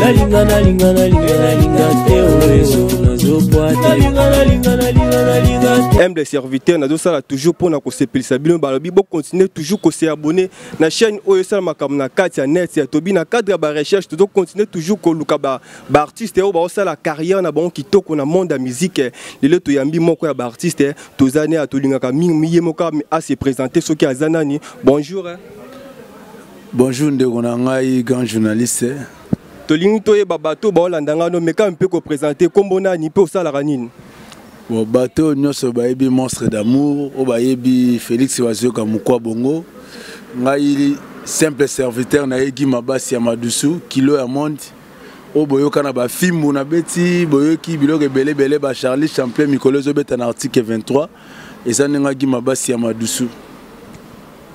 nalinga nalinga nalinga nalinga te oyo nazokwata aime de serviteur nazosala toujours mpo na kosepelisa bino balobi bocontinue toujours koseabone na chaîne oyo esala makambo na kati ya net ya tobi na cadre ya barecherche tozocontinue toujours koluka baartiste oyo baosala carrière na bango kitoko na monde ya mizike lelo toyambi moko ya baartiste toza ne atolingaka mingi ye moko a se présenter soki aza nani bonjour hein? bonjour ndeko na ngai grand journaliste tolingi toyeba bato baolanda ngai no mekami mpe kopresente nkombo nani mpe osalaka nini bon bato oyo nyonso bayebi monstre d'amour oyo bayebi félix bazoyoka mokwa bongo ngai simple serviteur na ye gima basi ya madusu kilo ya monde oyo boyoka na bafimbu na beti boyoki biloko ebele ebele ba charlie champlain mikolo ezobeta na article 23 eza ndenge agima basi ya madusu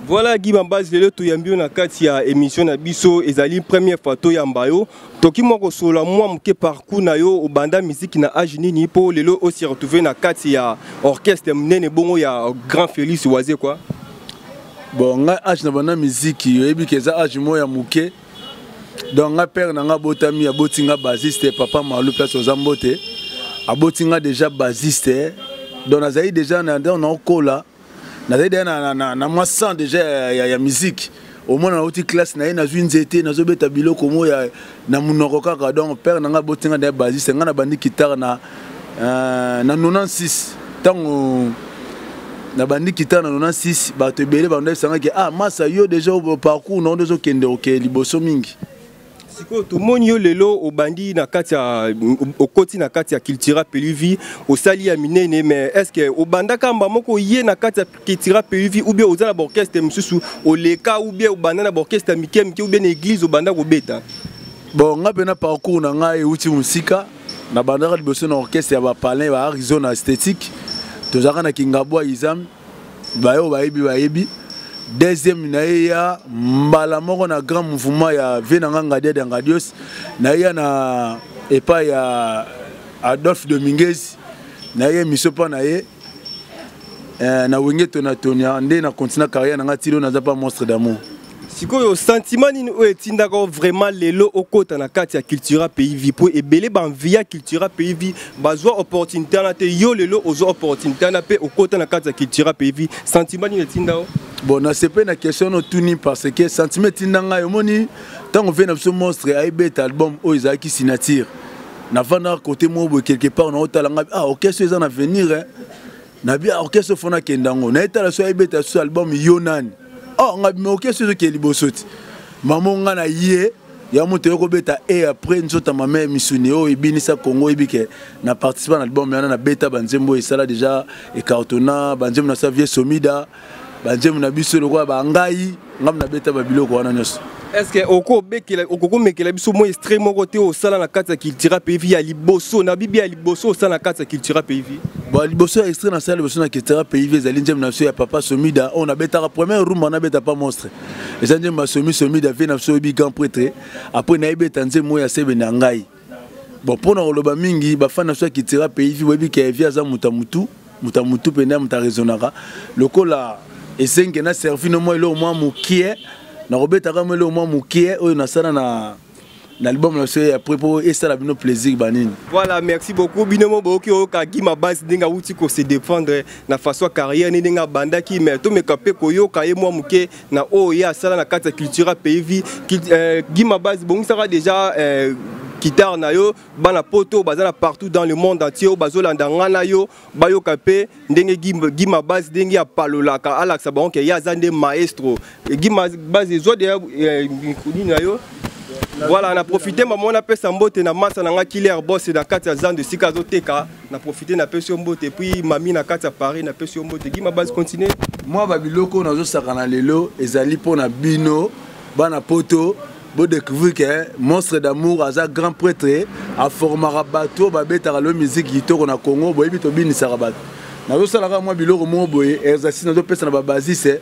Voilà Guy Bambaz lelo toyambi yo na kati ya émission na biso ezali première fois toyamba yo toki mwa kosolola mwa moke parcours na yo obanda miziki na age nini mpo lelo osi retrouve na kati ya orchestre monene bongo ya grand Félix Wazekwa bon ngai age na banda miziki oyebi ke eza age moko ya moke donc nga père na nga abotami aboti nga basiste papa malu place oza mbote aboti nga déjà basiste donc nazali déjà naokola nazali deja na, na, na mwa sang déjà ya, ya, ya musique omona nauti classe na ye nazwi nzete nazobeta biloko mo na monoko kaka donc père na nga aboti nga na ye basiste nga nabandi kitare na Euh, na 96 ntango nabandi kita na 96 bato ebele banda esangaki ah masa yo deja parcours na yo nde ozokende oke liboso mingi sikoyo tomoni yo lelo obandi na kati ya okoti na kati ya cultura peluvi osali ya minene mais est ce que obandaka mba moko ye na kati ya cultura peluvi ou bien oza na baorchestre mosusu oleka ou bien obanda na baorchestre ya mike mike ou bien na église obanda kobeta bon ngai mpe na parcours na ngai euti mosika na bandaka liboso na orchestre ya bapalin ba arizona esthétique tozalaka na kingabwa izam baye oyo bayebi bayebi deuxième na ye ya mbala moko na grand mouvement ya vie na nga ngadia de ngadios na ye ya na epai ya adolphe dominguez na ye miso mpa na ye eh, na wenge tona tonia nde na continua carrière na ngai tilo naza pa monstre d'amour sikoyo sentiment nini oyo etindaka o vraiment lelo okota na kati ya cultura pays vie mpo ebele banvi ya cultura pays vie bazwa opportunité wana te yo lelo ozwa opportunité wana mpe okota na kati ya cultura pays vie sentiment nini etinda o bon nasepe na question no tuni parce que sentiment etinda ngai omoni ntango vie na biso monstre ayebeta album oyo ezalaki signature navandaka kote moko boye quelque part naotala ngai ah orchestre eza na venir eh. nabi ah orchestre fona akenda yango nayetala so ayebeta susu album yo nani oh ah, ngai bima orchestre ezokee liboso ti mamo ngai na ye ya moto yo kobeta e après nzota mama ya misuni oyo ebinisa congo oyebi ke na participa na album yana nabeta banzembo esala deja ecartona banzembo na sa vie somida banzembo na biso lokola bangai ngai nabeta babiloko wana nyonso estce okokomekela biso mwa estre moko te osala na kati ya cultura payvi ya liboso na bibi ya liboso osala na kati ya cultura payvi bon liboso ya estre nasala liboso na cultura payvi ezali nzembo na biso ya papa somida oyo nabetaka première rumba nabeta pa monstre eza nzembo ya somi somida vie na biso oyebi grand pretre apres nayebeta nzembo oyo ya sebe na ngai bon mpo na koloba mingi bafani na so ya kitira pays vi boyebi ke vi aza moto ya motu moto ya motu mpe nde moto aresonaka lokola esenge na servi no mwa eloko mwa mokie nakobetaka mwa eloko mwa mokie oyo nasala na na album na biso ya pre mpo esala bino plaisir banini voilà merci beaucoup bino mo boyoki oyoka gima base ndenge awuti ko se défendre na façon ya carrière ni ndenge abandaki mais tomeka mpe koyoka ye mwa moke na oyo ye asala na kati ya cultura pays vie euh, gima base bongisaka déjà euh, guitare na yo bana poto baza na partout dans le monde entier oyo bazolanda nga na yo bayoka mpe ndenge gima base ndenge apalolaka alakisa bango ke ye aza nde maestro gima base ezwa deya euh, mikuni na yo voilà na profite mama wana apesa mbote na masa na nga killer boss na kati ya zando esika azoteka na profite na pesi yo mbote epuis mami na kati ya paris na pesi yo mbote gima base continue mwa babiloko oyo nazosakana lelo ezali mpo na bino bana poto bodécouvrir ke monstre d'amour aza grand prêtre aformaka bato oyo babetaka lelo miziki kitoko na congo boyebi tobinisaka bato nazosalaka mwa biloko moko boye exercice nazopesa na babasiste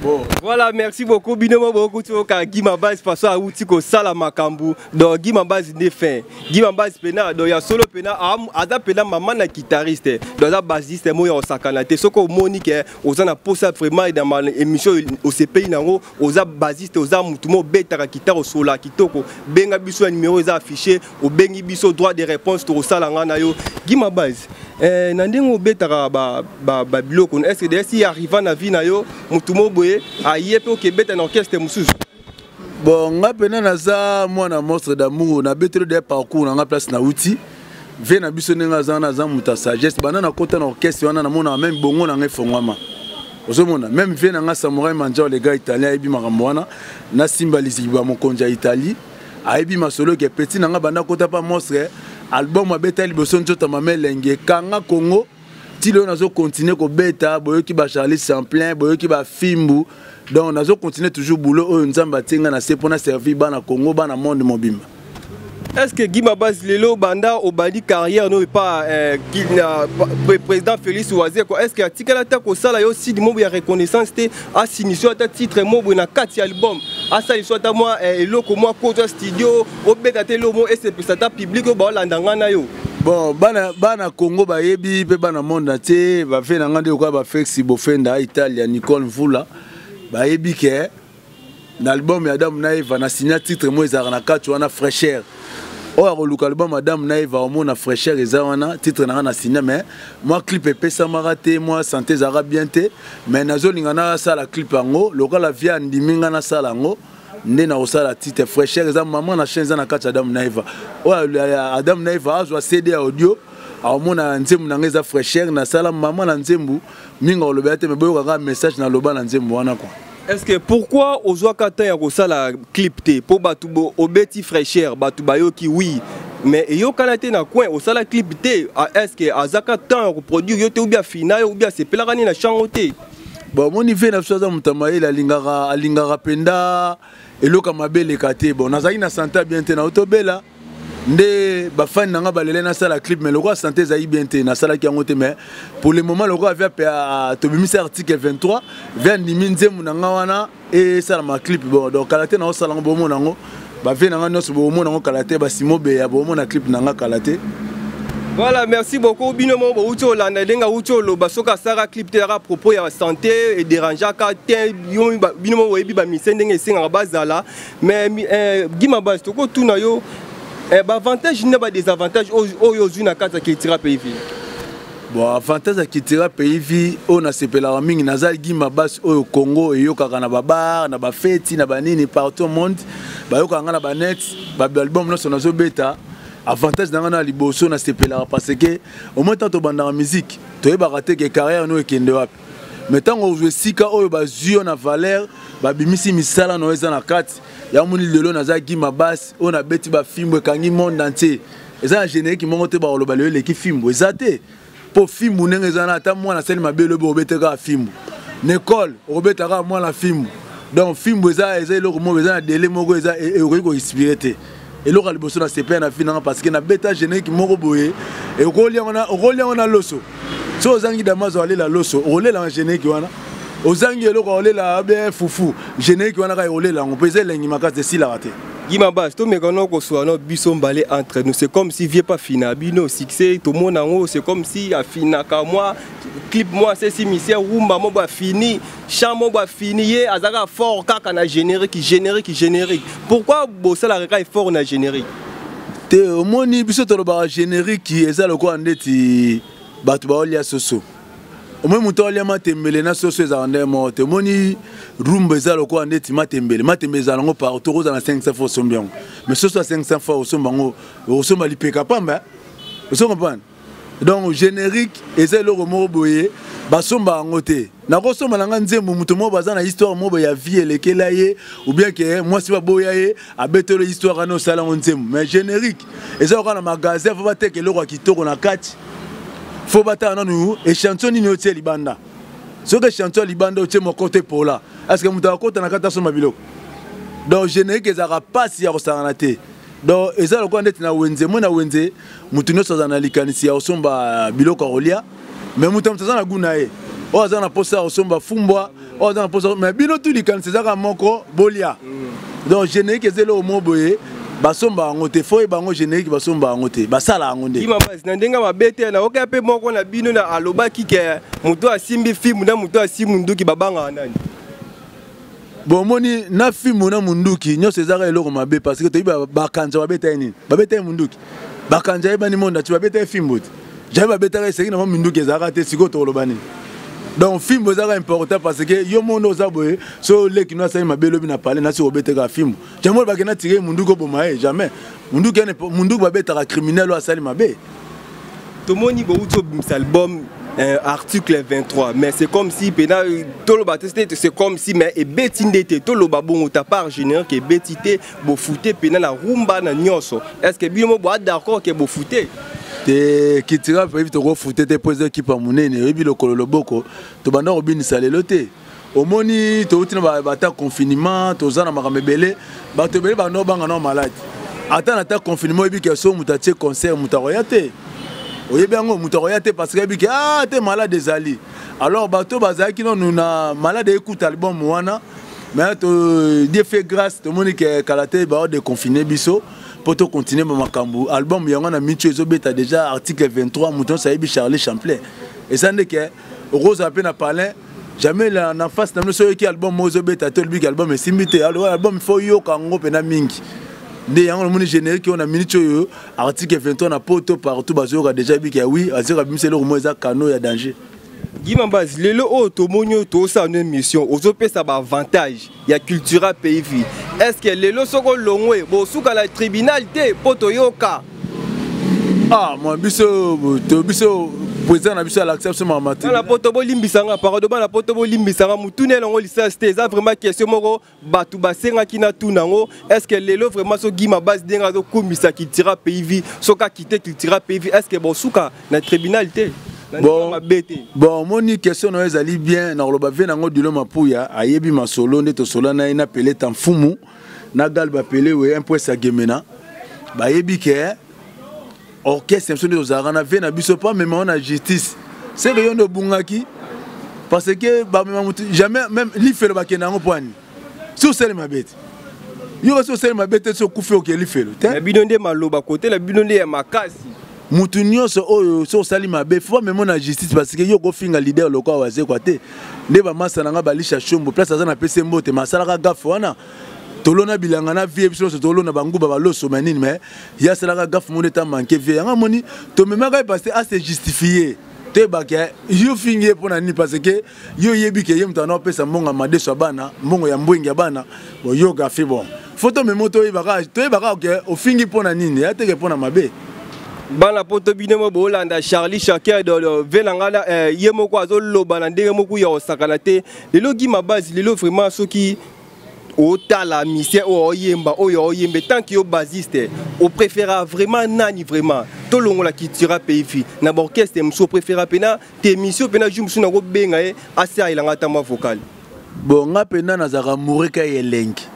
Bon. Voilà, merci beaucoup. Bino beaucoup tu ka Gima Base parce que outi ko sala makambu. Donc Gima Base ne fin. Gima Base pena donc ya solo pena aza pena maman na guitariste. Donc aza bassiste mo ya osakana te soko moni ke ozana posa vraiment dans ma émission au CPI nango oza basiste oza mutu mo obetaka kitara osola kitoko benga biso ya numero eza affiche obengi biso droit de réponse tokosala ngai na yo gima base eh, na ndenge obetaka babiloko ba, ba, ba estce desi arriva na vie na yo mutu mo boye aye mpe okebeta na orchestre mosusu bon ngai mpena naza mwana monstre d'amour nabeteli de parcours na ngai place nauti vie na biso ndenge aza wana aza moto ya sagesse banda nakota na orchestre wana namonaka meme bongo na ngai efongwama ozomona meme vie na ngai samurai manjao le gars italien ayebi makambo wana nasimba liziba mokonzi ya italie ayebi masolo ke petit na ngai banda kota pa mostre album abeta liboso nzota mama elengi ekanga kongo ti lelo nazo continuer kobeta boyoki ba charlie semplain boyoki ba fimbu donc nazo continuer toujours boulot oyo nzambe atie ngai na se mpo na servir bana congo bana monde mobimba est ce que guy mabasi lelo banda obandi carrière no epa eh, président félix wazeko est ce que atikali ata kosala yo side mobo ya reconnaissance te asinisi yo ata titre mobo na kati ya album asali so ata mwa eh, eloko mwa koto ya studio obeta te lomo esepesa ata publike oyo baolanda ngai na yo bon bana bana congo bayebi mpe bana monde na tie bafe na ngai nde lokola bafexi bofenda italia nicole mvula bayebi ke na album ya adamu na eva na signa titre moko ezalaka na kati wana fraîcheur oyo akoluka album adamu na eva omona fraîcheur eza wana titre na ngai na signa mais mwa clip epesamaka te mwa sante ezalaka bien te mais nazolinga nasala clip yango lokola vie andimi ngai nasala yango nde nakosala titre fraîcheur eza mama na chaine eza na kati ya adamu na eva oyo adamu na eva azwa cd ya audio aomona nzembo na ngai eza fraîcheur nasala mama na nzembo mingi akolobela te me boyoka kaka message naloba na nzembo wana kua est-ce que pourquoi ozwaka temps ya kosala clip te mpo bato obeti fraîcheur bato bayoki wi mais eyokana te na coin osala clip te ah, est-ce que azaka temps ya koproduire yo te oubia fina yo oubia asepelaka nini na chango te bon omoni vie na biso aza moto ya mayele alingaka alingaka mpenza eloko ya mabe eleka te bon nazalaki na sante ya bien te nao tobela nde bafani na ngai balele nasala clip mais lokola sante ezalaki bien te nasalaki yango te mais pour le moment lokola via tobimisi article 23 via ndimi nzembo na ngai wana esalama clip bon donc kala te na osala ngo bomona yango bavie na ngai nyonso bomona yango kala te basimo beya bomona clip na ngai kala te voilà merci beaucoup bino moko bouti olanda ndenge auti oloba soki asalaka clip te yaka propos ya santé ederangeaka te bino moko boyebi bamise ndenge esengaka bazala mais eh, gima basi tokotuna yo eh, baavantage na badesavantage oyo ozwi na kati ya cultura pays ville bon avantage ya cultura pays vie oyo nasepelaka mingi naza gima basi oyo congo eyokaka na babar na bafeti na banini partout monde bayokaka ngai na banet baalbum nyonso nazobeta avantage na ngai na liboso nasepelaka parce que omoi ntango tobandaka miziki toyebaka te ke carrière no ekende wapi mais ntango ozwa esika oyo bazwi yo na valeur babimisi misala na yo eza na kati yango moni lelo naza gima basi oyo nabeti bafimbo ekangi monde entier eza na générique moko te bakoloba lelo eleki fimbu eza te mpo fimbu ndenge eza na ata mwana asali mabe elobi okobeta kaka fimbu na ekole okobeta kaka mwana fimbu donc fimbu eza eza eloko moko eza na dele moko eza e, e, okoki koexpire te eloko ya liboso na sepela na fina nga parce que nabeta générique moko boye okolia yango na loso so ozangi damazo alela loso okolela na geneki wana ozangi eloko akolela abe fufu geneki wana kaka ekolela yango mpo eza elengi makasi esilaka te yima basi tomeka no koswa no biso mbale entre nous c'est comme si vie pas fina bino succès tomona yango c'est comme si afinaka mwa clip mwa sesi misie rumba mo bafini chant moko afini ye azalaka fort kaka na générique générique générique pourquoi bosalaka kaka effort na générique te omoni biso tolobaka générique eza lokola ndeti bato baolia soso omoni moto aolia matembele na soso ezalaka nde moko te omoni rumba eza lokola ndeti matembele matembele ezala yango partout okozala na 500 fois osombi yango mais soso ya 500 fois osomba yango okosomba lipeka pamba ozo comprendre donc générique eza eloko moko boye basomba yango te nakosomba na ngai nzembo moto moko baza na histoire moko ya vie elekela ye oubien ke mwasi baboya ye abetelo histoire wana osala yango nzembo mais générique eza oka na magasin fo bateka eloko ya kitoko na kati fo batala nanu echantio nini otie libanda soki echantio ya libanda otie moko te pola aske moto akota na kati asomba biloko donc générique ezalaka mpasi ya kosangana te donc eza lokola ndeti na wenze moi na wenze moto nyonso aza na likanisi ya kosomba biloko ya kolia me moto ya moto aza na gu na ye oyo aza na mposa ya kosomba fumbwa oyo aza na mposa me bino tu likanisi ezaka moko bolia mm. donc générique eza eloko moko boye basomba yango te fo yeba yango générique basomba yango te basala yango nde imamasi na ndenge mabe te nayoka mpe moko na bino na alobaki ke moto asimbi fimu na moto asimbi nduki babangaka nani bomoni na fimbu na munduki nyonso ezaka eloko mabe parce que toyebi bakanza babeta ye nini babeta ye munduki bakanza yebani monde ati babeta ye fimbu te jamai babetaka eseki na mwa minduki ezalaka te sikoyo tokoloba nini donc fimbu ezaka important parce que yo monde oza boye so oleki no asali mabe lobi na pale nasi obeteka fimbu jamai bakenda tike munduki oboma ye jamais munduki munduki babetaka criminel oyo asali mabe tomoni bowuti obimisa album euh, article 23 mais c'est comme si pena toloba te te c'est comme si mais ebeti nde te toloba bongo ta part générale ke ebeti te bofute pena na rumba na nyonso est ce que bino mo boa d'accord ke bofute te kitira mpe yebi tokofute te mpo eza ekipa monene oyebi lokolo loboko tobanda kobinisa lelo te omoni touti na bata confinement toza na makambo ebele bato ebele bando banga nao malade ata na ta confinement oyebi ke so moto atie concert moto akoya te oyebi yango moto akoya te parce que ayebi ke a ah, te malade ezali alors bato bazalaki nanu na malade ekuta album wana mais to dieu fait grâce tomoni ke kala te bao deconfine biso mpo tocontinue bamakambo album yango na micho ezobeta déjà article 23 moto nyonso ayebi charlie champlain eza nde ke okozala mpe na palin jamais la na face na bino soki oyoki album moko ezobeta te olobiki album esimbi te album il faut yoka yango mpena mingi nde yango namoni générique oyo na minute oyo article 23 na poto partout bazoyoka déjà ebiki ya wi azoyoka bimisa eloko moko eza cano ya danger gimambaz lelo oyo tomoni oyo tosala no émission ozopesa baavantage ya cultura peifi est ce que lelo soko longwe bosuka na tribunal te mpo toyoka ah mwa biso to biso président na biso alakisa biso mama te na poto bolimbisa nga parado bana poto bolimbisa nga motuna elongo lisasi te eza vraiment question moko bato basengaki na tuna yango est ce que lelo vraiment so gima base ndenge azokumisa cultura pays vie soki akite cultura pays vie est ce que bosuka na tribunal te bon, bon omoni question nayo ezali bien nakoloba vie nango dilo mapuya ayebi masolo nde tosola na ye na pele ta mfumu na gal bapele we impresa gemena bayebi ke orchestre biso nde tozalaka na vie na biso mpo amema yo na justice seke yo nde obungaki parce que bamema motu jamais même lifelo bakenda yango mpo ani si osali mabe te yo kasi osali mabe te so okufi okeli felo te na bino nde maloba kotela bino nde ya makasi motu nyonso oyo so osali mabe fo bamemo na justice parce que yo okofinga leader lokola wazekwa te nde bamasa na ngai balisha shombo place aza na pese mbote ma asalaka gafe wana tolona bilanga na vie biso nyonso tolona banguba baloso ma nini mai ye asalaka gafe moni eta manke vie yango amoni tomemaka ye parce que ase justifie toyebaka yo fingi ye mpo na nini parce que yo yebi ke ye moto ana opesa mbongo ya madeso ya bana mbongo ya mbwengi ya bana boyoka fi bon fo tomemo toyebaka toyebaka ke ofingi mpo na nini ya teke mpo na mabe bana poto bino mo bolanda charlie chaker dolo ve na ngai eh, ye moko azoloba na ndenge moko ya kosakana te lelo gima base lelo vraiment soki otala misien oyo oyemba oyo oyemba etanke yo basiste opréféra vraiment nani vraiment tolongola kitura peifi na baorchestre mosusu opréféra mpena temisio mpe na jour mosusu nakobenga ye asalela ngai ata mwa vocal bo nga mpenza nazalaka mourika ye elengi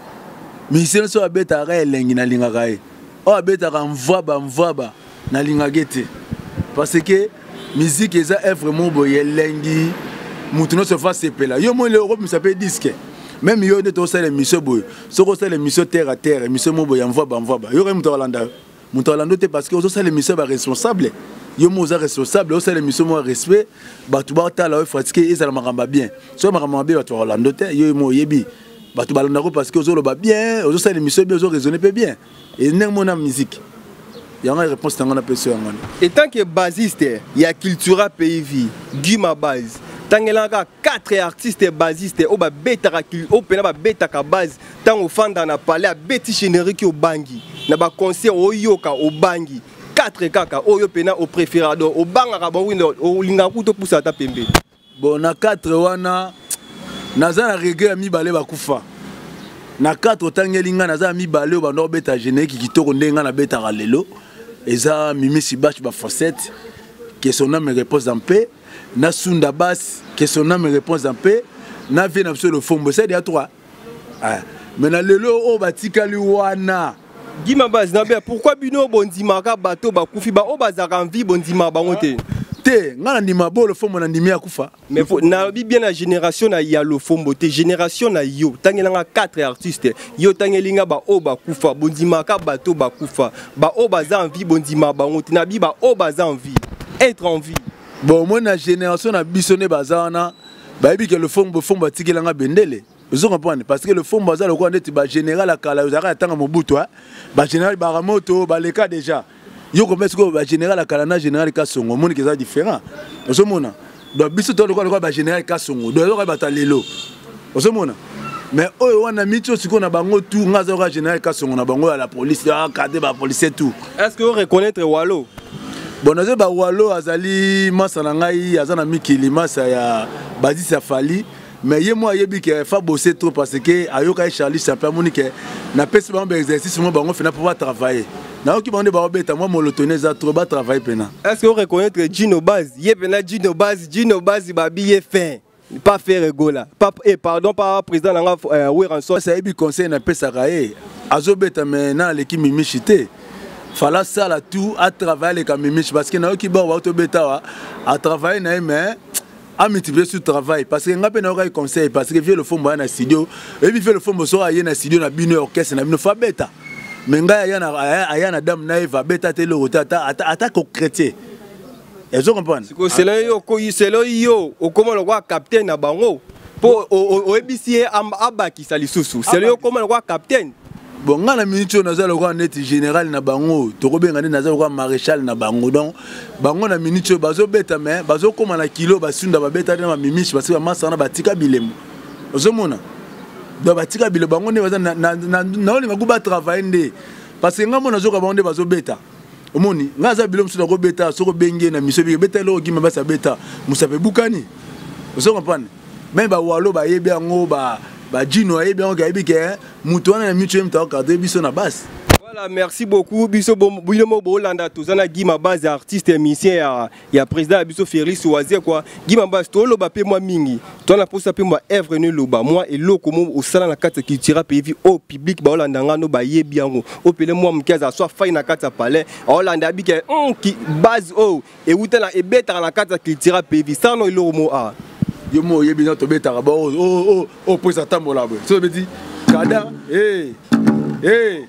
misien so abetaka ka elengi nalingaka ye oyo abetaka mvwaba mvwaba nalingaka ye te parce que miziki eza evre moko boye elengi moto nyonso fa sepela yo moi leo okobimisa mpe diske meme yo nde tokosala emission boye soki osala emission terre a terre emission moko boye ya mvwaba mvwaba yokai moto akolanda yo moto alando te parce que ozosala émission ya baresponsable yo mo oza responsable osala émission moko ya respect bato batala oyo fatike ezala makambo ya bien soki makambo mabe bato bakolando te yo mo oyebi bato balandako parce que ozoloba bien ozosala émission bien ozoraisonne mpe bien e ndenge mona miziki yango réponse na ngai napesi yango wana etant que basiste ya cultura pays vie guy mabase tangelaka 4 artiste basiste oyo babetaka oyo mpena babetaka base Tango fanda na palais abeti générique obangi na ba concert oyoka obangi 4 kaka oyo pena au préférado obangaka ba winda olingaka kuto pusa ata pembe. Bon na 4 wana naza na regret ya mibale bakufa. Na 4 otangeli nga naza na mibale oyo banda obeta générique kitoko ndenge nga nabetaka lelo eza Mimi Sibash ba fossette que son âme repose en paix na Sunda Bass que son âme repose en paix na vie na biso le fombo c'est déjà 3 eh, mais na lelo oyo batikali wana gima base na bea pourquoi bino bondimaka bato bakufi baoyo bazalaka en vie bondima bango te te ngai nandima bolo fombo nandimi akufa nalobi bien na génération na ya lofombo te génération na yo tangela nga 4 artiste yo tangeli nga baoyo bakufa bondimaka bato bakufa baoyo baza en vie bondima bango te nabi baoyo baza en vie être en vie bon omoni na génération na biso nde baza wana bayebi ke lofombo fombo atikela nga bendele ozo comprendre parce que lofombo aza lokola ndeti bagénéral ya kala ozalaka ya ntango mobutu bagénéral baramoto baleka déjà yo komesi koyo bagénéral ya kala na général kasongo omoni ke eza différent ozomona donc biso to lokola lokola bagénéral kasongo donc ezoka bato ya lelo ozomona mais oyo wana miti oyo sikoyo na bango tout nga azayoka général kasongo na bango ya la police akade ba policier tout est ce que oreconnaitre walo bon nazoyi ba walo azali masa na ngai aza na mikili masa ya bazis ya fali mais ye moko ayebi ke fa bosse trop parce que ayokaki charlie chape amoni ke napesi bango baexercice mo bango fena mpo batravaille nayoki bango nde baobeta mwa molotoni eza trop batravaille mpena est ce que oreconnaitre gino base ye mpena gino base gino base babi ye fin pas faire egola pas et eh, pardon pas président nanga euh, Weranson ça ebi conseil na pesa kae azobeta mais na aleki mimishi te fala sala tout a travailler avec mimishi parce que na yoki ba wa to beta wa a travailler na mais a multiplier sur travail parce que ngape na yoki conseil parce que vieux le fond ba na studio et puis vieux le fond bo so aye na studio na bino orchestre na bino fa beta mais ngai aya na aya na dame na eva beta te lo ata ata ko chrétien ezo comprendre sikoyo selo yo selo yo okoma lokola capitaine na bango mpo oyebisi ye abakisa lisusu selo yo okoma lokola capitaine bon ngai na miniti oyo naza lokola neti général na bango tokobenga nde naza lokola maréchal na bango donc bango na miniti oyo bazobeta mais bazokóma na kilo basunda babetaki na bamimishi basi bamasa wana batika bilemo ozomona donc batika bilemo bango nde baza naolinga kuba travaille nde parce que ngai mona zoka bango nde bazobeta omoni ngai aza bilo mosusu nakobeta soki obengi ye na miso ebiki beta eloko gima basi abeta mosape ebukani ozo comprendre meme bawalo bayebi yango bajino ayebi yango kayebi ke eh, moto wana na mitu ye moto akokata ye biso na basi Voilà, merci beaucoup. Biso bino mo bolanda tozana Guy Mabazi artiste musicien ya ya président ya biso Félix Waze kwa Gima Bas toloba pe mwa mingi to na posa pe mwa œuvre ne loba mwa eloko mo osala na kati culture pe vi au public ba olanda ngano ba yebi yango o pele mwa mkiaza soit fai na kati palais olanda bike mm, ki base o ewuta na ebetaka na kati culture pe vi sano eloko mo a yo mo oyebi na tobetaka ba o o o pesa tambola boye so beti kada eh eh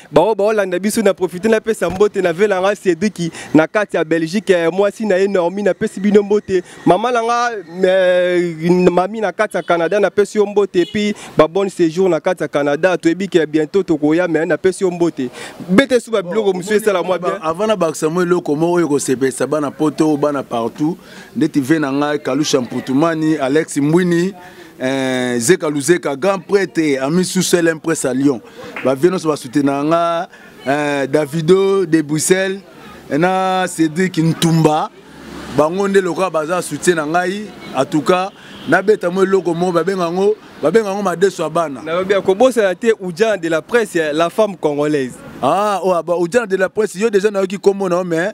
baoyo baolanda biso na profite napesa mbote na vela nga cedriki na kati ya belgique eh, mwasi na ye normi napesi bino mbote mama na nga eh, mami na kati ya canada napesi yo mbote epuis babonne séjour na kati ya canada toyebi ke bientôt tokoya me napesi yo mbote bete su babiloko mosusu esala mwa bien avant na bakisa mwa eloko moko oyo ekosepelisa bana poto bana partout ndeti ve na ngai kalusha mputumani alex mbwini eh, zeka luzeka grand prêtre ami susel impres à lyon ba vieux nyonso basutenaka nga eh, davido de bruxelles na cédric ntumba bango nde lokola baza soutien na ngai en tout cas nabeta mo eloko moko babenga yango babenga yango madeso ya bana nalobi akobosana te ujana de la presse la femme congolaise ah oyo oh, ujana de la presse yo deja nayoki nkombo na yo mais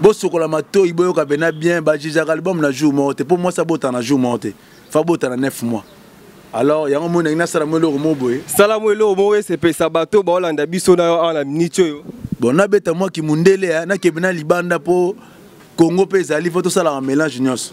bosokola matoyi boyoka bena bien bajijaka album na jour moko te mpo mwasi abota na jour moko te fa bota na 9 mois alors yango moi ndenge nasala mo eloko moko boye sala mo eloko moko esepesa bato baolanda biso na yo awa na miniti oyo bon nabeta mwa kimundele nakebe na libanda mpo kongo mpe ezali mpo tosalaka mélange nyonso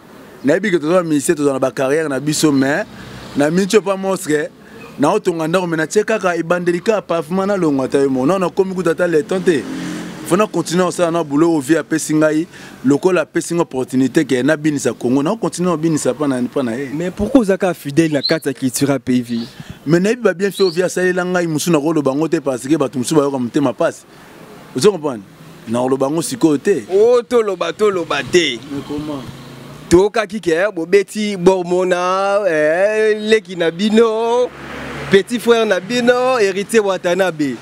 nayebi ke toza ba ministère tozala na ba carrière na biso mais na minci opa mostre naotonga ndako me natie kaka ebandeli kaka pavema nalongwa ata yo mo nao nakomi kuta ata leton te fo na continue kosala na boulot oyo vie apesi ngai lokola apesi ngai opportunité ke nabinisa congo nao continue kobinisa mpa na ye mais pourquoi ozaka fidèle na kati ya cultura pays vie me nayebi babienfait oyo vie asalela ngai mosusu nakoloba yango te parce ke bato mosusu bayoka motema mpasi ozo comprendre nakoloba yango sikoyo te o oh, toloba toloba te toyokaki ke eh, bobeti bormona eh, leki na bino petit frère na bino héritier watanabe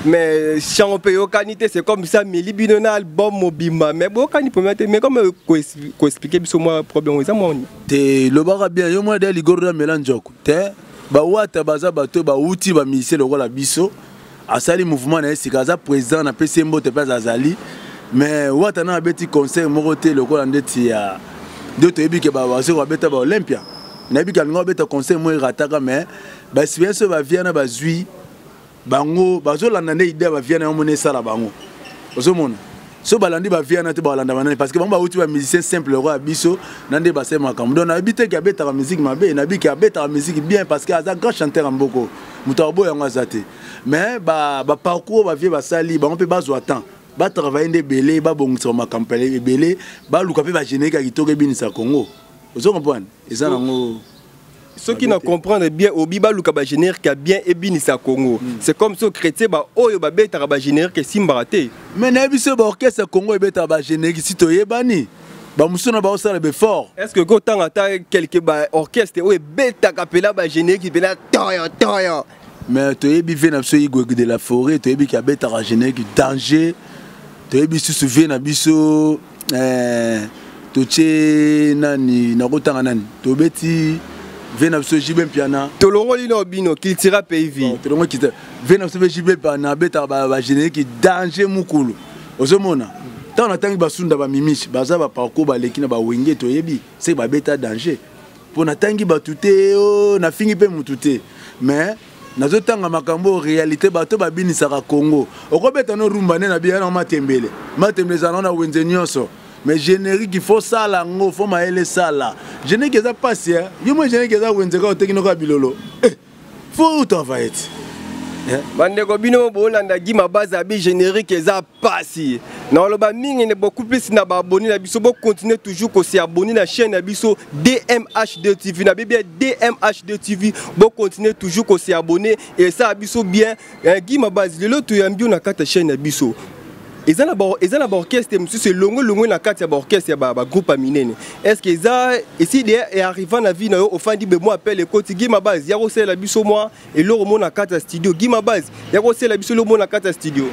mais chango mpe eyokani te c'est comme ça mili bino na album mobimba mais boyokani mpenza te mais comme koexplike biso mwa problème eza moni te lobaka bien yo mwana da ligoro na mela njoko te bawata baza bato bawuti bamusicien lokola biso asali mouvement na ye sika aza président na pesi ye mbote mpe azazali mais wata na abeti conseil moko te lokola ndeti ya nde toyebi ke bawazo babeta ba olympia nayebi ke alinga babeta conseil moko erataka mais baexperience oyo baviana bazwi bango bazolanda nde idea baviana yango mona esala bango ozomona so balandi ba viana te balanda banani parce que bango bauti ba musicien simple lokola biso na nde basali makambo donc nayebi te ke abetaka musique mabe nayebi ke abetaka musique bien parce que aza grand chanteur ya mboko moto aboya yango aza te mais baparcours ba bavie basali bango mpe bazwa temps batravaille nde ebele babongisa makambo ebele baluka mpe bagénérique ya kitoko ebinisa congo ozo comprendre eza nango soki na comprendre bien obi baluka ba générique ya bien ebinisa congo mm. c'est comme so chrétien ba oyo babetaka ba générique esimbaka te mais nayebi so ba orchestre congo ebetaka ba générique si toyebani bamosusu na baosala befort est ce que kotanga ata quelque ba orchestre oyo ebetaka mpela ba générique mpela toyo toyo mais toyebi vie na biso igweg de la forêt toyebi ki abetaka générique danger toyebi susu vie na biso eh, totie nani nakotanga nani tobeti vie na biso jibe mpiana tolongoli no bino kiltira pays vie tolongoli kiltira vie na biso mpe jibe mpiana abetaka bagénérique danger mokolo ozomona ntango natangi basunda bamimisi baza baparcour baleki na bawenge toyebi seke babeta danger mpo natangi bato te o oh, nafingi mpe motu te mais nazotanga makambo oyo réalité bato babinisaka congo okobeta no rumba nde nabiya na matembele matembele ezala na wenze nyonso mais générique faut sala yango faut mayele sala générique eza mpasi yo moi générique eza wenze kaka oteki noko ya bilolo eh. Faut où travailler eh? bandeko bino bolanda gi mabazi abi générique eza pasi naloba mingi ne beaucoup plus na baabonné na biso bocontinue toujours kose abonné na chaîne na biso dmhd tv na bebia dmhd tv bocontinue toujours kose abonné esala biso bien Eh, Guy Mabazi, lelo toyambi yo na kati ya chaîne ya biso eza na ba eza na ba orchestre mosusu elongo elongo na kati ya ba orchestre ya ba, ba groupe ya minene est ce que eza esi de e arriva na vie na yo ofandi be mwa appel ekoti gima base ya kosalela biso mwa eloko mo na kati ya studio gima base ya kosalela biso eloko mo na kati ya studio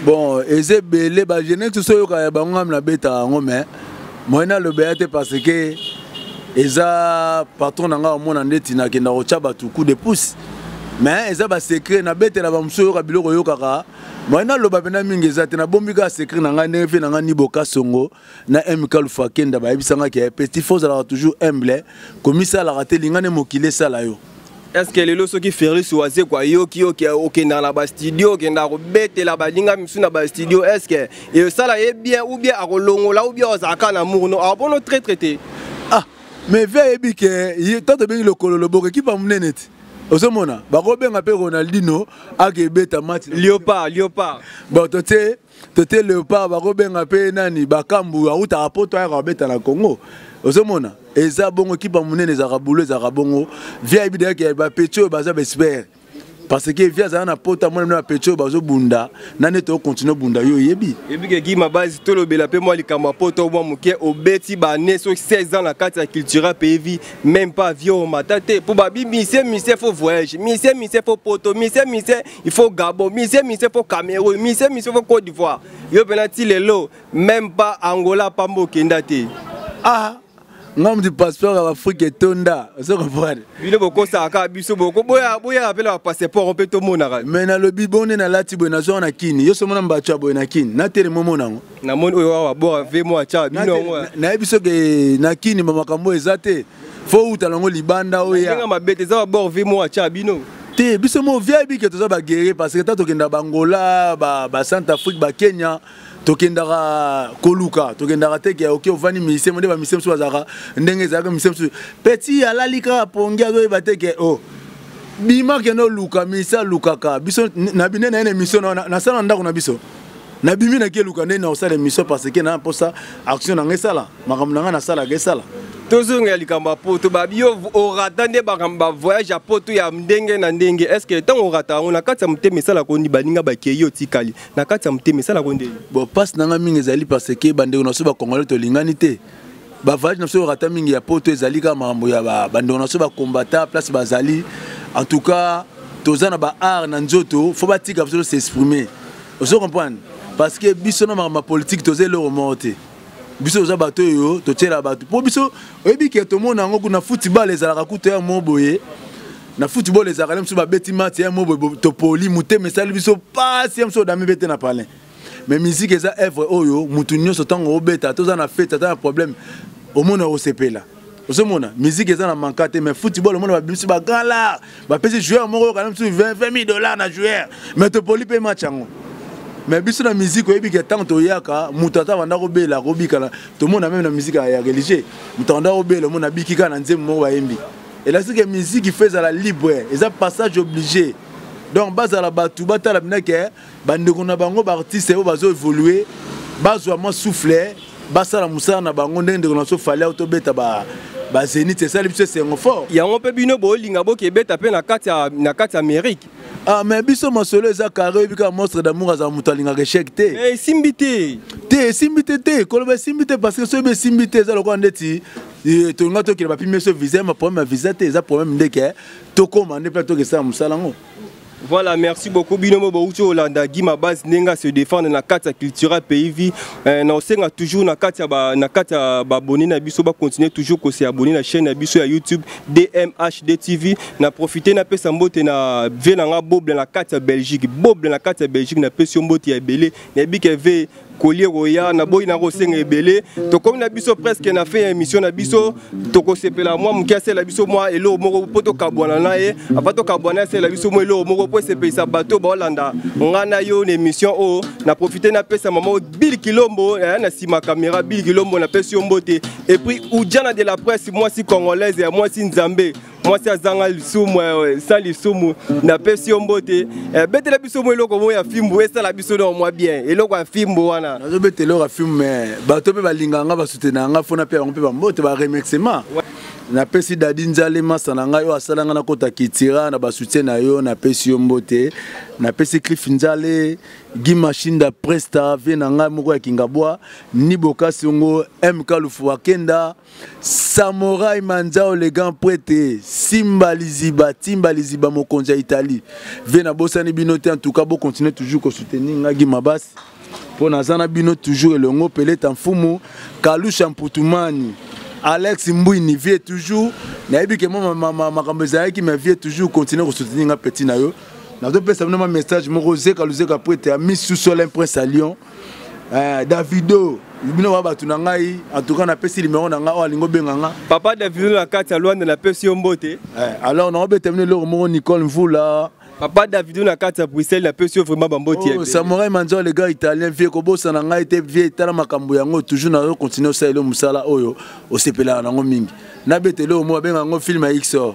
bon eza ebele ba jeunesse tous oyoka ya bango ngami nabeta yango mais moyen nalobela te parce que eza patron na ngai omona ndeti nakenda kotya bato coup de pouce mais eza ba secret na betela ba muso yoka biloko yokaka moi naloba mpena mingi eza te nabombi kaka secret na ngai ndenge mpe na ngai nibo kasongo na mk lufa kenda bayebisa ngai ke petit fo ozalaka toujours humble komisalaka te linga nde mokili esala yo estce lelo soki ferlis wazeko ayoki okendaka na bastudio okendaka kobetela baninga misu na bastudio estce esala ye bien ou bien akolongola ou bien ozalaka na mourno awa mpono traitre te ah mais vie ayebi ke ntango tobengi lokolo loboko ekipe ya monene ti ozomona bakobenga mpe ronaldino ake ebeta match liopard liopard bon totie totie leopard bakobenga mpe nani bakambu autaka poto ayaka kobeta na congo ozomona eza bongo ekipe ya monene ezalaka bulo ezalaka bongo vie ayebi deyake bapeti oyo baza baespere parce que vie azala na pota mwana na pecho bazo bunda na nete okontinue bunda yo oyebi ebike gima base tolobela mpe mwa likambo ya pota mwa moke obeti bane so 16 ans na kati ya cultura mpe vie même pas vie omata te mpo babi misie misie fo voyage misie misie fo poto misie misie il faut gabo misie misie fo cameroun misie misie fo côte d'ivoire yo mpena ti lelo même pas angola pamba okenda te ah nga mutu passeport ya baafrika etonda ozo comprendre bino bokosaka kaka biso bokoboyaka mpela bapasseport mpe tomonaka me nalobi bo nde nalati boye nazwaka na kini yo somona mbato ya boye na kini natelema omona yango namoni oyo awa bora ve mo atya bino yango nayebi soki na kini bamakambo oyo eza te fo uta nango libanda oyoenga mabe te eza babor ve mo atya bino te biso mo vie ayebi ke toza baguerrier parce que ta tokenda bangola ba, ba centre afrique bakenya ba tokendaka koluka tokendaka teke ya oke ovandi mise nde bamise mosusu bazalaka ndenge ezalaka mise mosusu peti alali kaka pongi azoyeba teke o oh, bima kende oluka mise alukaka biso na bine na ye na emission nasala na ndako na biso nabimi naki eluka nde naosala emission parce ke na mposa action na ngai esala makambo na ngai nasalaka esala tozongela likambo ya poto babi yo orata nde makambo bavoyage ya poto ya ndenge na ndenge estce ntango orata yango na kati ya motema esalaka oni baninga bakei otikali na kati ya motema esalaka ndeni bon mpasi na ngai mingi ezali parce que bandeko na biso bacongolais tolingani te bavage na biso oyoka ata mingi ya poto ezali kaka makambo ya bandeko na biso bakombata place bazali en tout cas toza na baart na nzoto fo batika biso tosexprime ozo comprendre parce que biso na makambo ya politike toza eloko moko te biso toza bato oyo totyela bato mpo biso oyebi ke tomona yango kuna football ezalaka kutu ya mo boye na football ezalaka le mosusu babeti match ya mo boye topoli motema esali biso mpasi ya mosusu odami bete na palin mais miziki eza evre oyo motu nyonso ntango obeta toza na fete ata na problème omona osepela ozomona musique eza na manka te mais football omona babimisi bagala bapesi joueur moko yoka na mosusu 20 000 dollars na joueur mais topoli mpe match yango mais biso na musique oyebi ke ntango toyaka moto ata banda kobela akobikana tomona meme na musique ya religieux moto abanda kobela omona abiki kaka na nzembo moko bayembi elasi ke musique ifo ezala libre eza passage oblige donc bazala bato batala bina ke bandeko na bango baartiste oyo bazo évolue bazwa mwa souffle basala mosala na bango ndenge ndeko na biso fali auto beta ba bazenit esali biso esengo fort yango mpe bino bolinga boke ebeta mpe na kati ya na kati ya amerike Ah, mais biso masolo eza carré oyebi kaka monstre d'amour azala moto alingaka échec te Eh, esimbi te te esimbi te te koloba esimbi te parce que soki esimbi te eza lokola ndeti eh, tolinga tokende bapimi biso visa ma problème ya visa te eza problème ndeke tokoma nde mpe toke esala mosala yango Voilà, merci beaucoup. Binomo Bouti Olanda, Guy Mabaz, Nenga se défendre na carte culturelle pays vie. Euh, na osenga toujours na carte ba na carte ba abonné na biso ba continuer toujours ko se abonner na chaîne na biso ya YouTube DMHD TV. Na profiter na pesa mbote na vie na nga boble na carte Belgique. Boble na carte Belgique na pesa mbote ya belé. Na bike ve colis ekoya naboyi na kosenga ebele tokomi na biso presque na fin ya émission na biso tokosepela mwa moke asala biso mwa eloko moko mpo tokabwana na ye apa tokabwana ye asala biso mwa eloko moko mpo esepelisa bato baolanda ngai na yo na émission oyo na profite napesa mama bili kilombo aya na nsima kamera bili kilombo napesi yo mbote epuis ujana de la presse mwasi congolaise ya mwasi nzambe mwasi azanga lisumu eh, sa lisumu napesi yo mbote eh, betela biso mwa eloko moko ya fimbu esala biso nao mwa bien eloko ya fimbu wana nazobeta eloko ya fimbu me bato mpe balingaka nga basutena nga fona mpe yango mpe bambote baremerciement napesi dadi nzale masa na ngai oyo asala ngai nakota kitira na basoutien na yo napesi yo mbote napesi cliff nzale gi mashinda presta vie na ngai moko ya kingabwa ni bokasi yango mk lufu akenda samorai manzao le grand prete simba liziba timba liziba mokonzi ya italie ve nabosani bino te en tout cas bocontinue toujours kosoutenir ngagi mabasi mpo naza na bino toujours elongo peleta mfumu kalusha mputumani alex mbwini vie toujours nayebi ke mwa makambo ezalaki ma vie toujours continue kosoutenir nga petit na yo nazopesa bino ma message moko zeka luzeka prete ya misusu olin prince ya lyon eh, davido bino ba bato na ngai antuka napesi limero na ngai oyo alingi obenga nga papa davido na kati ya lwanda napesi yo mbote eh, alors naobeta bino eloko moko nicole mvula papa davido na kati ya bruxelles napesi yo vraiment bamboti oh, samurai manzao le gars italien vie kobosana ngai te vie tala makambo yango toujours nazo continue osalela mosala oyo osepelaka nango mingi nabeta eloko moko abenga yango film ya xor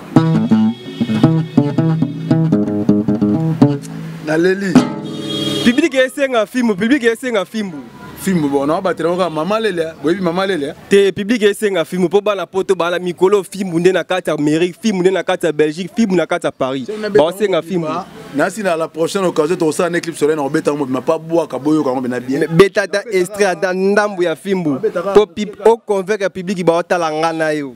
naleli publike esenga fimbu publike esenga fimbu fimbu bona obatela oka mama lelia boyebi mama lelia te publike esenga fimbu mpo bana poto bala mikolo fimbu nde na kati ya amérique fimbu nde na kati ya belgique fimbu na kati ya paris baosenga fimbu nasi na la prochaine occasion tokosala na éclipse solaire na kobeta yango mobima mpa bwaka boyoka yango mpena bien beta ata estre ata ndambo ya fimbu mpo oconvaincre publiki baotala ngai na yo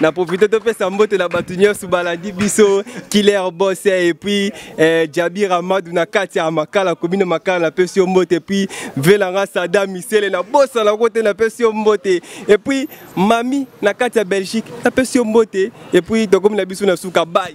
na profite topesa mbote na bato nyonso balandi biso killer bos et puis eh, jabi ramadu na kati ya makala komine makala napesi yo mbote puis velanga sada misele na bosa na kote napesi yo mbote et puis mami na kati ya belgique napesi yo mbote et puis tokomi na biso na suka bai